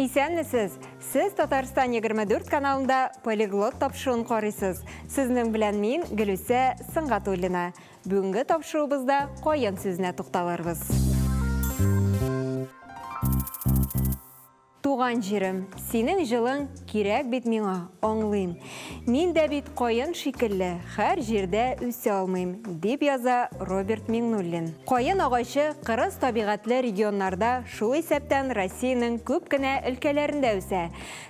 Исәнмесез! Сез Татарстан 24 каналында полиглот тапшыуын карыйсыз. Сезнең белән мин Гөлүсә Сыңгатуллина. Бүгенге тапшыруыбызда каен сүзенә тукталырбыз. Туган җирем, синең җылың Кирәк бит миңа, аңлыйм. Мин дә бит каен шикелле, Һәр җирдә үсә алмыйм, дип яза Роберт Миңнуллин. Каен агачы кырыс табигатьле регионнарда, шул исәптән Россиянең күп кенә өлкәләрендә үсә.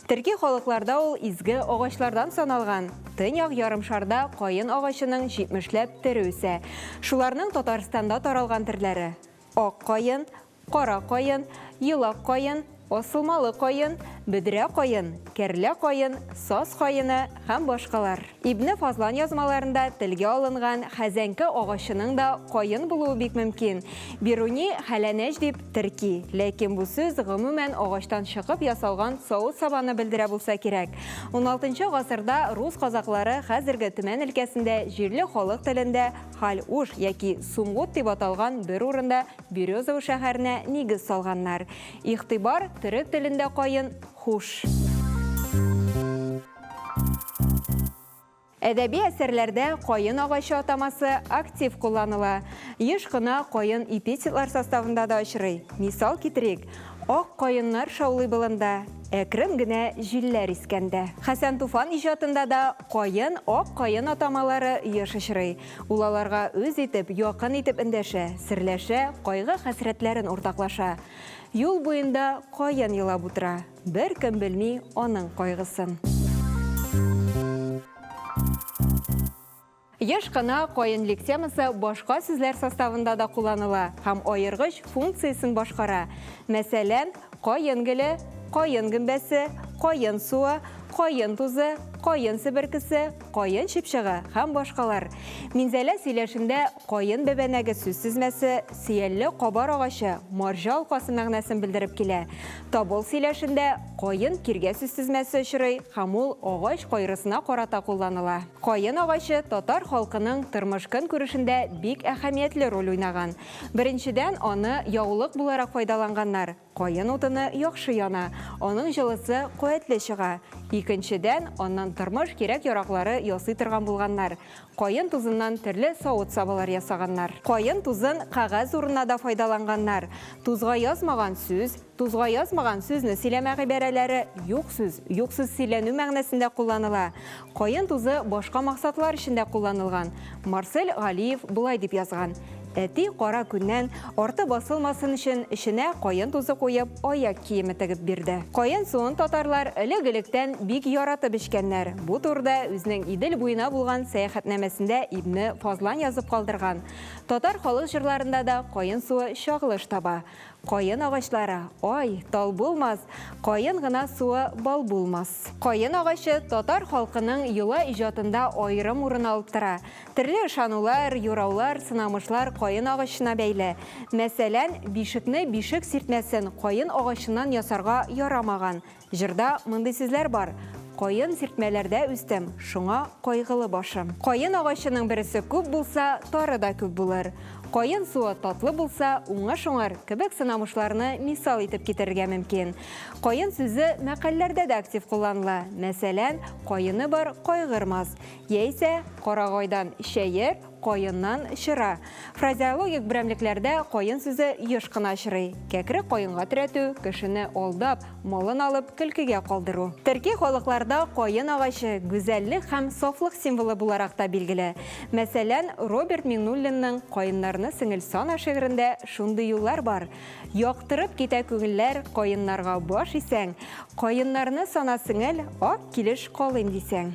Төрки халыкларда ул изге агачлардан саналган. Төньяк ярымшарда каен агачының җитмешләп төре үсә. Шуларның Татарстанда таралган төрләре, ак каен, Кара каен, елак каен, асылмалы каен, бөдрә каен, кәрлә каен, саз каены һәм башкалар. Ибне Фазлан язмаларында телгә алынган хәзәнкә агачының да каен булуы бик мөмкин. Бируни хәләнәҗ дип терки, ләкин бу сүз, гомумән, агачтан чыкып ясалган савыт-сабаны белдерә булса кирәк. Уналтынчы гасырда рус казаклары хәзерге Төмән өлкәсендә җирле халык телендә Халь-уш яки Сумгут дип аталган бер урында Березово шәһәренә нигез салганнар. Игътибар, төрек телендә каен, хуш. Әдәби әсәрләрдә каен агачы атамасы актив кулланыла. Еш кына каен эпитетлар составында да очрый. Мисал китерик, Ак каеннар шаулый болында, әкрен генә җилләр искәндә. Хәсән Туфан иҗатында да каен, ак каен атамалары еш очрый. Ул аларга үз итеп, якын итеп эндәшә, серләшә, кайгы-хәсрәтләрен уртаклаша. Юл буенда каен елап утыра. Беркем белми аның кайгысын. Еш кына каен лектемасы башка сүзләр составында да кулланыла һәм аергыч функциясен башкара. Мәсәлән. Каен гөле, каен гөмбәсе, каен суы, каен тузы, каен себеркесе, каен чыпчыгы һәм башкалар. Минзәлә сөйләшендә каен бәбәнәге сүз тезмәсе сөялле кабар агачы, марҗа алкасы мәгънәсен белдереп килә. Табол сөйләшендә каен киргә сүз тезмәсе очрый һәм ул агач кайрысына карата кулланыла. Каен агачы татар халкының тормыш-көнкүрешендә бик әһәмиятле роль уйнаган. Беренчедән, аны яулык буларак файдаланганнар, каен утыны яхшы яна, аның җылысы куәтле чыга. Икенчедән, аннан тормыш кирәк-яраклары ясый торган булганнар, каен тузыннан төрле савыт-сабалар ясаганнар. Каен тузын кәгазь урынына да файдаланганнар, тузга язмаган сүз, Тузга язмаган сүзне сөйләмә гыйбарәләре юк сүз, юк сүз сөйләнү мәгънәсендә кулланыла. Каен тузы башка максатлар өчен дә кулланылган. Марсель Галиев болай дип язган, Әти кара көннән арты басылмасын өчен эченә каен тузы куеп, аяк киеме тегеп бирде. Каен суын татарлар элек-электән бик яратып эчкәннәр. Бу турыда үзенең Идел буена булган сәяхәтнамәсендә Ибне Фазлан язып калдырган. Татар халык җырларында да каен суы чагылыш таба. Каен агачлары, ай, тал булмас, Каен гына суы бал булмас. Каен агачы татар халкының йола иҗатында аерым урын алып тора. Төрле ышанулар, юраулар, сынамышлар каен агачына бәйле. Мәсәлән, бишекне бишек сиртмәсен каен агачыннан ясарга ярамаган, Җырда мондый сүзләр бар, Каен сиртмәләрдә үстем, шуңа кайгылы башым. Каен агачының бересе күп булса, тары да күп булыр. Каен суы татлы булса, уңыш уңар кебек сынамышларны мисал итеп китерергә мөмкин. Каен сүзе мәкальләрдә дә актив кулланыла. Мәсәлән, Каены бар кайгырмас. Яисә, Карагайдан чәер, Каеннан чыра. Фразеологик берәмлекләрдә каен сүзе еш кына очрый. Кәкре каенга терәтү, кешене алдап, малын алып, көлкегә калдыру. Төрки халыкларда каен агачы гүзәллек һәм сафлык символы буларак та билгеле. Мәсәлән, Роберт Миңнуллинның Каеннарны сеңел сана шигырендә шундый юллар бар, Яктырып китә күңелләр каеннарга баш исәң, Каеннарны сана сеңел, ак килеш калыйм дисәң.